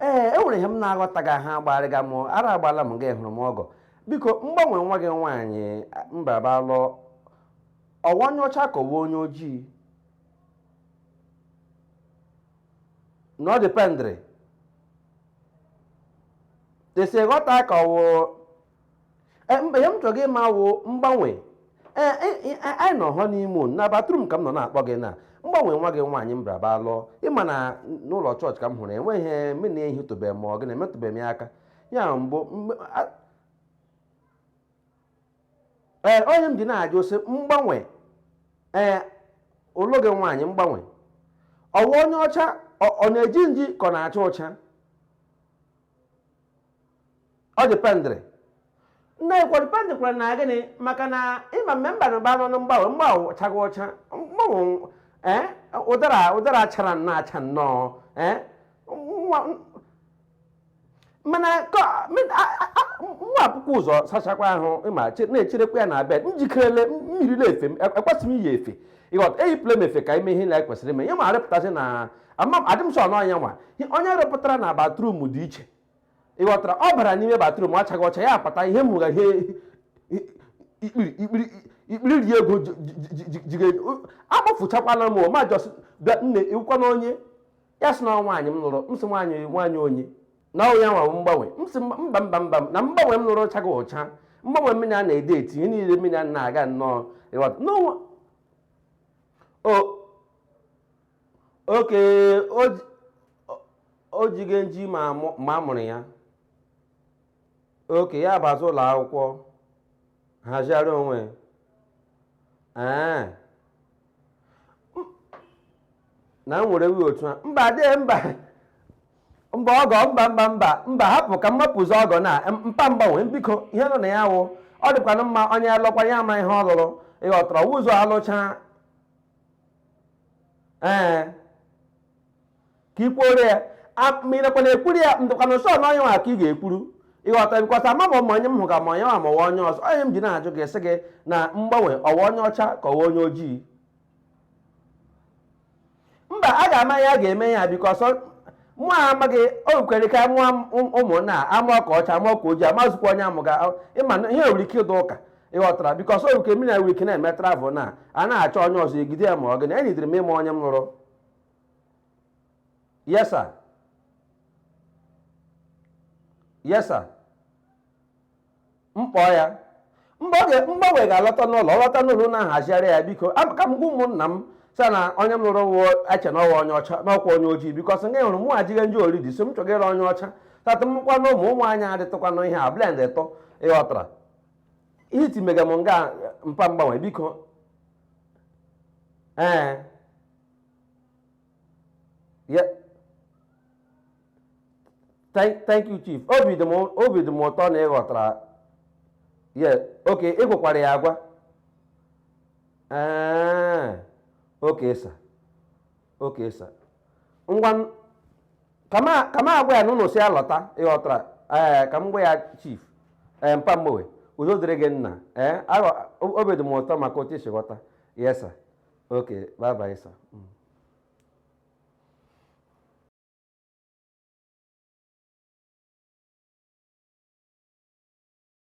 ee e nwere ihe m na-aghọtaghị ahụ agbarịga m ara agbala m ka ị hụrụ m ọgọ biko mgbanwe nwa gị nwaanyị mbaba lụọ ọ wụ onye ọcha ka ọ wụ onye ojii na ọ dependịrị etu e si ghọta ka ọ wụ Eh, mba ihe m chọga ịma wụ mgbanwe Eh, eh, eh, anyị nọ hụ n'ime ụlọ na bathroom ka m nọ na-akpọ gị na mgbanwe nwa gị nwaanyị m braba lụọ ị ma na n'ụlọ chọọchị ka m hụrụ enweghị ihe m na-ehitụbeghị ma ọ gị na-emetụbeghị m ya aka ya mbụ mgbe- a- ee ọ ya m ji na-ajụ sị mgbanwe ee ulu gị nwaanyị mgbanwe ọ wụ onye ọcha ọ ọ na-eji nji ka ọ na-acha ụcha ọ dependịrị na-ekwe dependịkwara na gịnị maka na ịma mme mba na mba nọ na mgbanwe mgbanwe chaga ọcha mgbanwe ee ụdara ụdara chara nnọọ acha nnọọ ee nwa- mana ka- mi- a- a- a- nwa akwụkwọ ụzọ sachakwa ahụ ịma che- na-echerekwa ya na bed m jikerele mmiri na-efe m e- ekwesịghị m iyi efe ị ghọta eyipụla m efe ka ime ihe na ekwesịrị ime ya ma arịpụtasị na ama adị m sọ na onye nwa onye rịpụtara na bathroom dị iche ị ghọtara ọ bara n'ime bathroom achaga ọcha ya apụta ihe m hụga ihe ikpiri ikpiri ikpiri ri ego jige agbafụchakwala m ma just bịa nne ị wụkwanụ onye ya sị na nwaanyị m lụrụ m sị nwaanyị nwaanyị onye na ọ ya wụ mgbanwe m sị mba mba mba na mgbanwe m lụrụ chaga ọcha mgbanwe mụ na ya na-edate ihe niile mụ na ya na-aga nnọọ ị ghọta n'onwe o okay o jige nji ma a mụrụ ya okay ya bazi ụlọ akwụkwọ hazigharị onwe ee na m were wụ otu a mba de mba mba ọgọ mba mba mba mba hapụ ka m mapụzi ọgọ na mpa mgbanwe biko ihe nọ na ya wụ ọ dịkwana mma onye lụkwa ya ama ihe ọ lụrụ ị ghọtara ụzọ alụcha ee ka i kwuoro ya ma ị nakwa na-ekwuru ya ndụkwana sọ na onye nwa ka ị ga-ekwuru ị ghọta because ama m ma onye m hụ ka ma onye nwa ma ọ wụ onye ọzọ ọ ya m ji na-ajụ gị sị gị na mgbanwe ọ wụ onye ọcha ka ọ wụ onye ojii mba a ga-ama ya a ga-eme ya because mụ amaghị o kwere ka mụọ ụmụnna amụọ ka ọcha amụọ ka ojii amazụkwa onye a mụga ị ma na ihe nwere ike ịdụ ụka ịghọtara because oru ke mina week na-eme travel na a na-achọ onye ọzọ egide ya ma ọ gịnị enyidiri m ịma onye m lụrụ yes sir yes sir mkpọ ya mgbanwe ga-alọta n'ụlọ ọ lọta n'ụlọ na-ahazigharị ya biko ka m gwa ụmụnna m sir na onye m lụrụ wụọ eche na ọ wụ onye ọcha n'ọkwa onye ojii because nga hụrụ mụ ejiga nji already so m chọgara onye ọcha tata mụkwa na ụmụ ụmụ anyị adịtụkwanụ ihe a blend ịtọ ịghọtara ihe iti mega m nga mpa mgbanwe biko ee ya thank thank you chief obi dị m obi dị m ụtọ na ị ghọtara ya okay ị gwakwara ya agwa ee okay sir okay sir ngwa ka m agwa ya na unu sị ya lọta ịghọtara ee ka m gwa ya chief ee mpa mgbowe udo dịrị gị nna ee obi dị m ụtọ maka otu i si ghọta yes sir okay bye bye sir mm.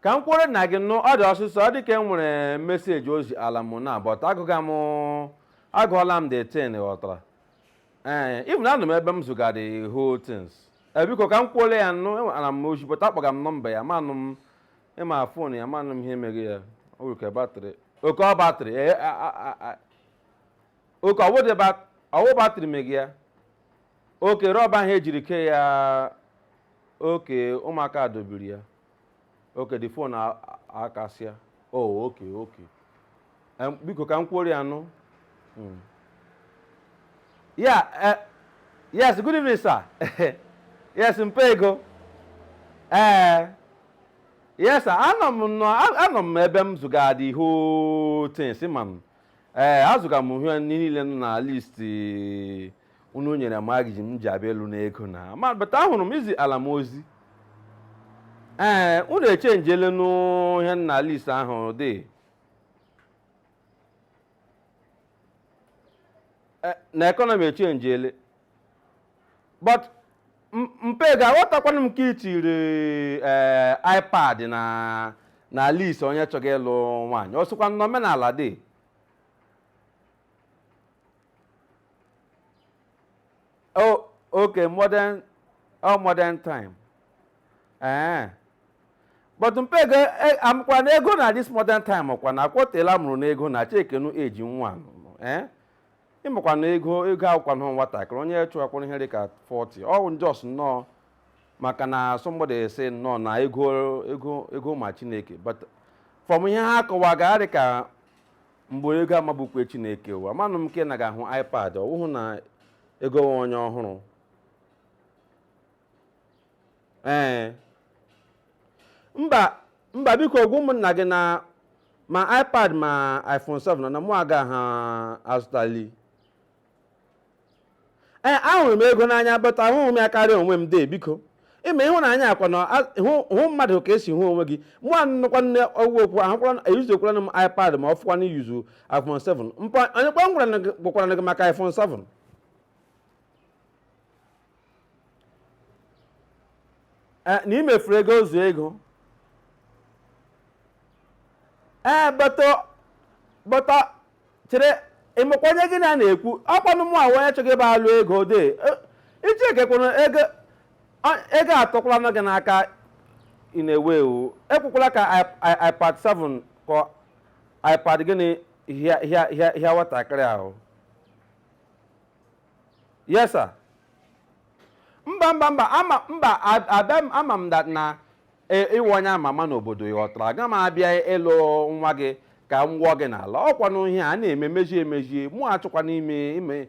ka m kwuole na gị nụ ọ dị ọsịsọ ọ dị ka e nwere message o ziala m na but agụga m agụọla m the thing ghọtara ee even anọ m ebe m zụga the whole things ee biko ka m kwuole ya nụ enwe- ana m ozi but akpọga m number ya manụ m ịma phone ya manụ m ihe mega ya o nwere ka battery okay ọ battery ee a- a- a- a- okay ọ wụ the bat- ọ wụ battery mega ya okay rubber ahụ e jiri kee ya okay ụmụaka dọbiri ya okay the phone a- a- akasịa oh okay okay Em, biko ka m kwuoro ya nụ Mm. ya eh, yes good evening sir yes mpa ego ee yes sir anọ m nọ a- anọ m ebe m zụga the whole thing si ma m ee azụga m ihe niile nọ na list unu nyere m agiji m ji abịa alụ n'ego na ma but ahụrụ m i ziala m ozi ee unu echenjele n'ihe nọ na list ahụ dị Eh, na economy echenjele but m- mpa ị ga-aghọtakwanụ m ka i tiri eh, ipad na na list onye chọga ịlụ nwaanyị ọ sịkwa na omenala dị oh okay modern oh modern time ee but mpa Ego e- amụkwa na ego na this modern time ọkwa na akwọtela mụrụ na ego na checkienụ age nwa nụ, ee ịmakwa na ego ego awụkwanụ nwatakịrị onye chụwakwara ihe dịka 40 ọ bụ just nnọọ maka na somebody sị nnọọ na ego ego ego ma chineke but from ihe ha kọwaga dịka mgbe ego mabukwa chineke ụwa manụ m ka ị naghị ahụ ipad ọ wụhụ na Ego wụ onye ọhụrụ ee mba mba biko gwa ụmụnna gị na ma ipad ma iphone 7 na mụ agaha azụtali ee ahụrụ m ego n'anya but ahụghị m ya karịa onwe m dee biko ịma ịhụnanya ọkwanụ hụ mmadụ ka esi hụ onwe gị mụ anụkwa nne ọgwụ okwu ahụkwara e-usekwara m ipad ma ọ fọkwanụ i-use iphone 7 mpa onye kwanụ gwakwara gị maka iphone 7 na imefuru ego zụọ Ego ee bata bata chere ịmakwa onye gị na ya na-ekwu ọkwanụ mụ ahụ onye chọga ịbịa alụ Ego de iji ekekwuru ego ego atọkwalanụ gị n'aka ị na-ewe iwe ekwukwala ka ipad 7 ka ipad gịnị hịa nwatakịrị ahụ yes sir mba mba mba ama mba a- abịa m ama m that na e- ịwụ onye ama ama n'obodo ị ghọtara aga m abịa ịlụ nwa gị ka m wụọ gị n'ala ọkwanụ ihe a na-eme mejie emejie mụ achọkwanụ ime ime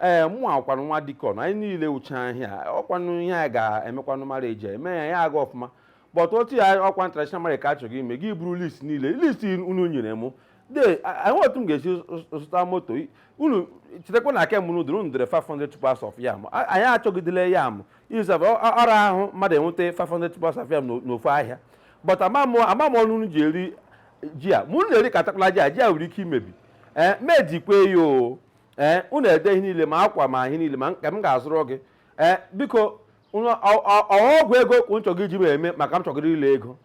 ee mụ wụkwanụ nwa deacon anyị niile wucha ahịa ọkwanụ ihe a ga-emekwanụ mara eji eme ya ya aga ọfụma but otu ya ọkwa traditional marriage ka achọga ime gị buru list niile list unu nyere mụ de enwe otu m ga-esi zụta moto unu chetakwa na aka mụrụ dịrị unu dere 500 tubers of yam A- anyị achọgidele yam izab ọ ra ahụ mmadụ inweta 500 tubers of yam n'o- n'ofu ahịa but amamụ amamụ ọnụ unu ji eri ji a ma unu na-eri katakwala ji a ji a nwere ike imebi ee mejikwe ya o ee unu ede ihe niile ma akwa ma ihe niile ma nke m ga-azụrụ gị ee biko unu- ọ- ọ- ọ ọgwụ ego ka unu chọga iji m eme maka m chọgara ịlụ Ego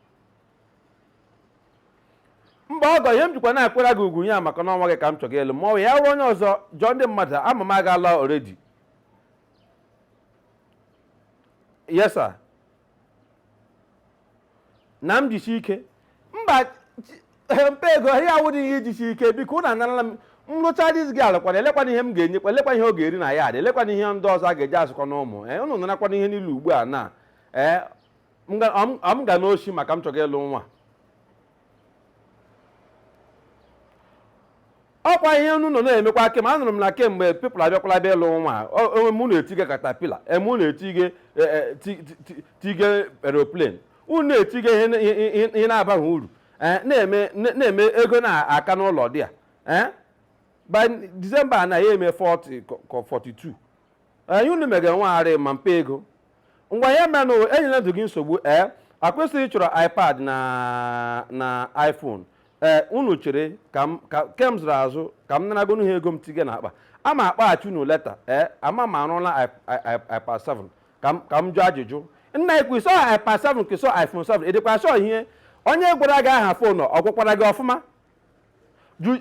mba ọgọ ihe m jikwa na-akwara gị ugwu ya maka na ọ nwa gị ka m chọga ịlụ ma ya wụrụ onye ọzọ jụọ ndị mmadụ ama m agaala already yes sir na m jisi ike mba mpa Ego ihe a awụdị ihe ijisi ike biko ụnụ anarala m nrụcha diz gị alụkwana elekwana ihe m ga-enyekwa elekwana ihe ọ ga-eri na ya adị elekwana ihe ndị ọzọ a ga-eji azụkọ na ụmụ ee ụnụ narakwana ihe niile ugbu a na ee m ga- ọ m- ọ m ga n'oshi maka m chọga ịlụ nwa ọkwa ihe unu nọ na-emekwa kem anụrụ m na kemgbe people abịakwala bịa ịlụ nwa o- o- unu na-etige caterpillar unu na-etige e, e, ti- ti- ti- tige aeroplane unu na-etige ihe na- ihe- ihe- ihe na-abaghị uru Eh, na-eme na- na-eme ego na-aka n'ụlọ dị a Eh? by December na ya eme 40 ka- ka 42 ee unu megara nwagharị ma mpe ego ngwa ihe menụ enyela ndụ gị nsogbu ee akwesịghị chọrọ ipad na na iphone ee unu chere ka m ka ke m zụrụ azụ ka m naragonu ha ego m tige na akpa ama akpọghachi unu later ee ama m arụla i- i- i- ipad 7 ka m ka m jụọ ajụjụ nna i kwu sị ọ ipad 7 ka sị ọ iphone 7 ị dịkwa sure ihe onye gwara gị aha phone ọ gwakwara gị ọfụma Ju-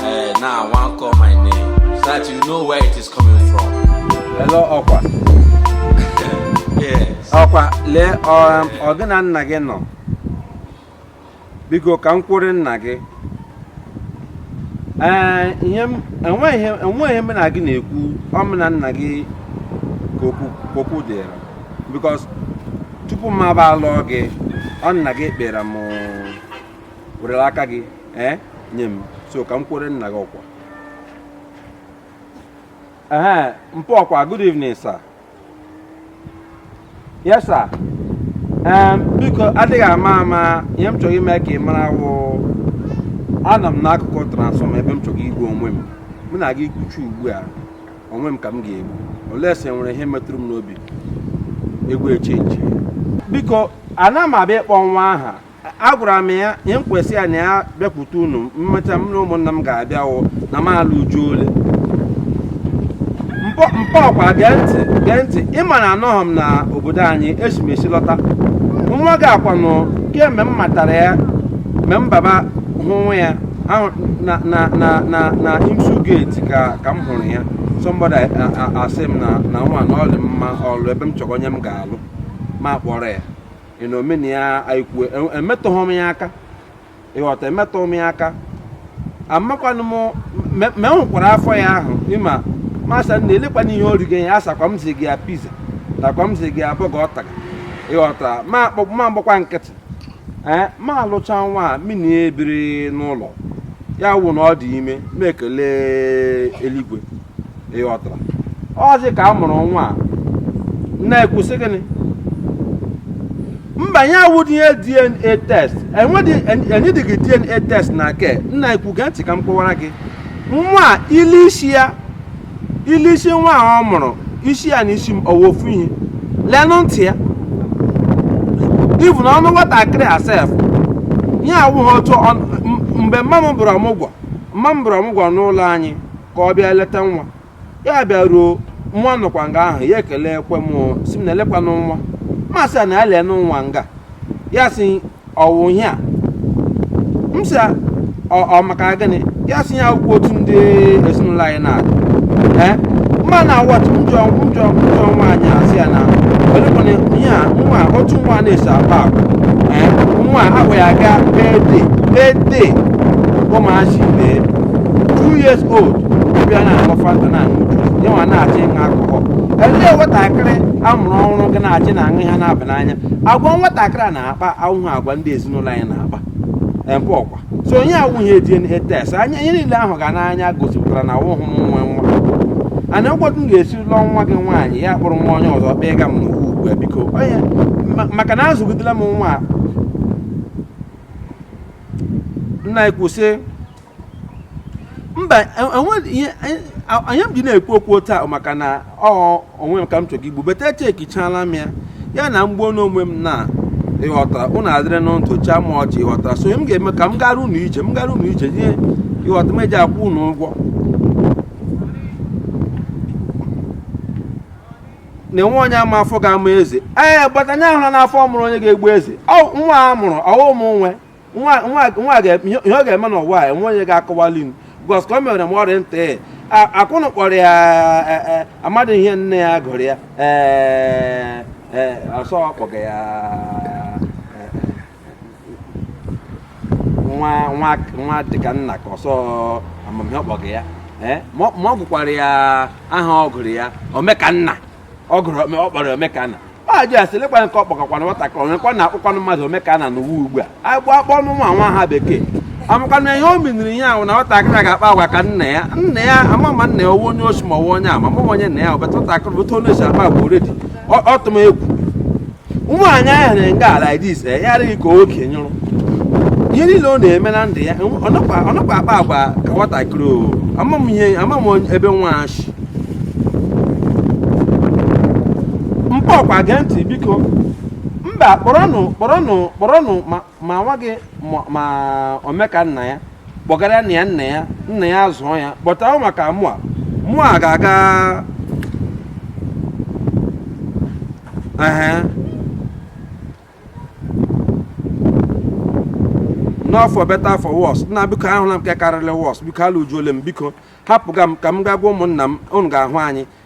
Hey, now I want call my name so that you know where it is coming from. Hello, Okwa. yes. Okwa, lee um, ọ gị na nna gị nọ. Biko ka m kwuru nna gị. Ee, enweghị ihe m na gị na-ekwu ọ m na nna gị ka okwu dịrị. Because tupu m abịa alụọ gị, ọ nna gị kpere m werela aka gị ee nye m so ka m kwere nna gị okwu ee mpa Okwa good evening sir yes sir ee biko adịghị ama ama ihe m chọga ime ka ị mara wụ anọ m n'akụkụ transformer ebe m chọga igbu onwe m mụ na gị kwuchaa ugbu a onwe m ka m ga-egbu unless e nwere ihe metụrụ m n'obi egwu echenji biko ana m abịa ịkpọ nwa aha agwara m ya ihe m kwu sị ya na ya bịakwute unu mmecha m na ụmụnna m ga-abịa wụ na m alụ Uju ole mpa Okwa gee ntị gee ntị ị ma na anọghị m na obodo anyị esi m esi lọta nwa gị a kwanụ kemgbe m matara ya mgbe m baba hụ nwa ya ahụ na na na na na IMSU gate ka ka m hụrụ ya somebody a- a- a- asị m na na nwa na ọ dị mma ịlụ ebe m chọga onye m ga-alụ m akpọrọ ya you know mụ na ya anyị kwuo e- emetụghị m ya aka ị ghọta emetụghị m ya aka amakwanụ m me- me hụkwara afọ ya ahụ ị ma m asị na elekwana ihe o rigo ya ọ sịkwa m ziga ya pizza takwa m ziga ya burger ọ taga ị ghọta ma akpọ m agbakwa nkịtị ee m alụcha nwa a mini ebiri n'ụlọ ya wụ na ọ dị ime m ekele eluigwe ịghọtara ọzi ka a mụrụ nwa a na-ekwusị gịnị mba ya awụdị ihe dna test enwedị enwedịghị dna test na nke m na-ekwu gee ntị ka m kọwara gị nwa a, ile isi ya ile isi nwa a ọ mụrụ isi ya na isi m ọ wụ ofu ihe lenụ ntị ya even ọnụ nwatakịrị a sef ya awụghị otu ọ- m- mgbe mma m bụrụ ọmụgwọ mma m bụrụ ọmụgwọ n'ụlọ anyị ka ọ bịa leta nwa ya bịaruo nwa nọkwa nga ahụ ya ekelekwa m sị m na elekwanụ nwa m sị ya na ya lenụ nwa nga ya sị ọwụ ihe a m sị ya, ọ ọ maka gịnị ya sị ya awụkwa otu ndị ezinụlọ anyị na-adị ee mma na awọtụ njọ njọ njọ nwaanyị a sị ya na olekwana ihe a nwa a, otu nwa na-esi ebe akwa ee nwa a agwa ya gaa birthday birthday ụmụazị bee two years old bịa na aṅụ fanta na aṅụ juice ya nwa na-achọ ịṅụ alcohol elee nwatakịrị amụrụ ọhụrụ ga na-achọ na aṅụ ihe na-aba n'anya agwa nwatakịrị a na-akpa awụhụ agwa ndị ezinụlọ anyị na-akpa ebe ọkwa so onye awụghị dna test anya ihe niile ahụga n'anya gosipụtara na awụhụ m nwe nwa a na ọkwa otu m ga-esi lụọ nwa gị nwaanyị ya kpụrụ nwa onye ọzọ kpee ga m n'ugwu ugbu a biko onye ma- maka na azụgidela m nwa nna anyị kwuo sị mba enwe ihe anyị m ji na-ekwu okwu taa maka na ọ onwe m ka m chọrọ igbu but echekichala m ya ya na m gbuo onwe m na ịghọtara ụnụ adịrị na ntụ chịa m ọchị ịghọtara so m ga-eme ka m gara ụnụ ije m gara ụnụ ije ihe ịghọta m eji akwụ ụnụ ụgwọ na enwe onye ma afọ ga-amụ eze ee but anya ahụla na afọ mụrụ onye ga-egbu eze nwa a mụrụ ọwụ m nwe nwa ihe ọ ga-eme n'ụwa a enwe onye ga-akọwali m because ka o mere m ọrịa nta e, akwụnụ kpọrọ ya e, e, amadị ihe nne ya gụrụ ya ee ọsọ kpọga ya nwa nwa nwa dịka nna ka ọsọ ama m ihe ọ kpọga ya eh? ma ọ gụkwara ya aha ọ gụrụ ya omekanna ọ gụrụ ọ kpọrọ omekanna ajụ ya sị lekwa nke ọkpọkọkwana nwatakịrị onyekwa na akpọkwanụ mmadụ omekanna n'ụwa ugbu a agbụ akpọnụ nwa nwa aha bekee amakwana ihe o miniri ihe ahụ na nwatakịrị ga-akpa agwa ka nna ya nna ya ama ma nna ya ọ wụ onye oshi ma ọ wụ onye ama ma onye nna ya ọbata nwatakịrị bụta onye oshi akpa agwa already ọ tụ m egwu nwaanyị ahụ na ngala dis eh, ya adịghị ka oke nyụrụ ihe niile ọ na-eme na ndụ ya ọ nọkwa akpa agwa ka nwatakịrị o ama m ihe ama m ebe nwa shi mpa ọkwa gee ntị biko mba kpọrọnụ kpọrọnụ kpọrọnụ ma ma nwa gị ma omeka nna ya kpọgara nna ya nna ya nna ya zụọ ya but ọ wụ maka mụwa mụ agaghị anọ for better for worse nna biko ahụla m nke karịrị worse biko alụjuole m biko hapụga m ka m gaa gwa ụmụnna m unu ga-ahụ anyị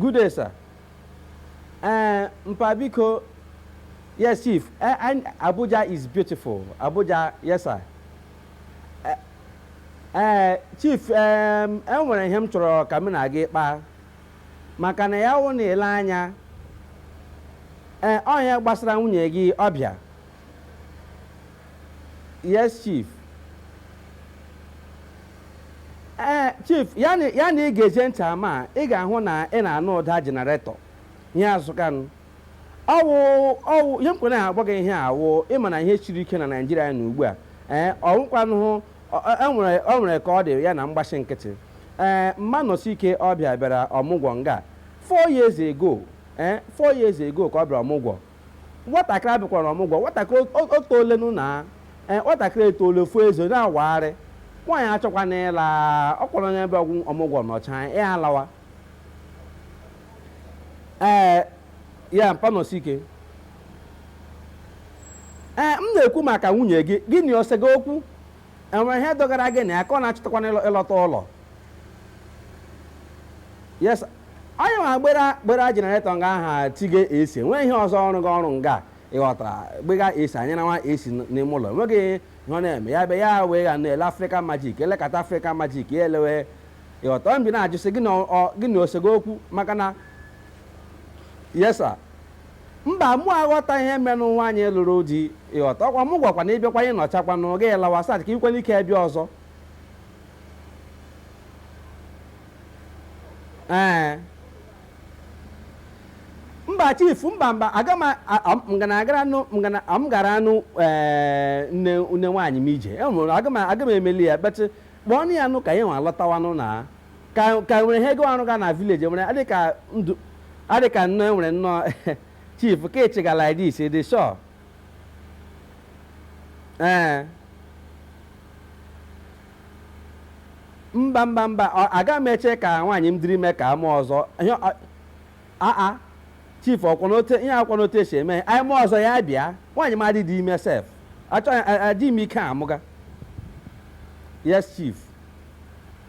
Good day, sir. Uh, Mpa Biko, yes, Chief. Uh, and Abuja is beautiful. Abuja, yes, sir. Uh, uh, Chief, um, enwere ihe m chọrọ ka m na gị kpaa maka na ya wụ na i lee anya ee ọnya gbasara nwunye gị ọ bịa yes chief ee chief ya na ya na ị ga-eje ntị ama a, ị ga-ahụ na ị na-anụ ụda generator ihe azụkanụ ọ wụ ọ wụ ihe mkpere na-agwa gị ihe a wụ ị ma na ihe siri ike na Naịjirịa na ugbu a ee ọ wụkwanụhụ enwere ọ nwere ka ọ dị ya na mgbachi nkịtị ee Mma Nọsike ọ bịa bịara ọmụgwọ nga four years ago ee four years ago ka ọ bịara ọmụgwọ Nwatakịrị a bịakwara ọmụgwọ. Nwatakịrị e- etoolenụ na ee, nwatakịrị etoole fuo eze na-awagharị. Nwaanyị achọkwana ịla ọkwa onye bịa ọmụgwọ nọcha ya alawa. Ee, ya Mpa Nọsike. Ee, m na-ekwu maka nwunye gị, gị na o sega okwu? enwere ihe dogara gị na ya ka ọ na-achọtakwana ịlọ- ịlọta ụlọ yes onye ma gbera gbera generator nga aha tige esi nwee ihe ọzọ ọ rụga arụ nga ị ghọtara gbega esi anyị na nwa esi n- n'ime ụlọ enweghị ihe ọ na-eme ya be ya wee ga na-ele Africa Magic elekọta Africa Magic ya elewe ị ghọta ọ m ji na-ajụ sị gị na ọ- ọ- gị na o sega okwu maka na yes sir Mba, mụ aghọtaghị ihe merenụ nwaanyị lụrụ di, ị ghọta? Ọkwa ọmụgwọkwanụ ị bịakwa ị nọchakwanụ, gị lawa so that i nwekwara ike bịa ọzọ. Ee. Mba chief, mba mba, aga m m ga na-agara nụ m ga na m gara anụ ee nne nne nwaanyị m ije. E nwere aga m aga m emeli ya, but kpọọnụ ya nụ ka ya nwa lọtawanụ na. ka ka nwere ihe gịnwa rụga na village nwere adị ka ndụ adị ka nnọọ enwere nnọọ chief ka ị chịga like this ị dị sure ee mba mba mba ọ- aga m eche ka nwaanyị m dịrị ime ka a mee ọzọ ihe ọ- aa chief ọkwanụ otu ihe a kwanụ otu e si eme anyị mee ọzọ ya bịa nwaanyị m adịdị ime sef achọghị adị m ike amụga yes chief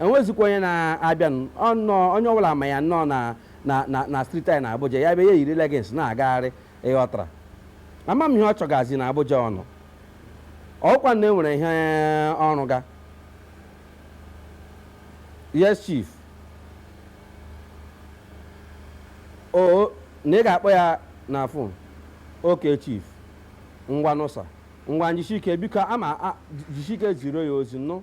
enwezikwa onye na-abịanụ ọ nọọ onye ọbụla ma ya nnọọ na na na na street anyị na Abuja ya bịa ya eyiri leggings na-agagharị ị ghọtara ama m ihe ọ chọgazi na Abuja ọ nọ ọkwa na enwere ihe ọ rụga yes chief o na ị ga-akpọ ya na phone okay chief ngwanụ sir ngwanụ jisike biko ama a- jisike ziro ya ozi nụ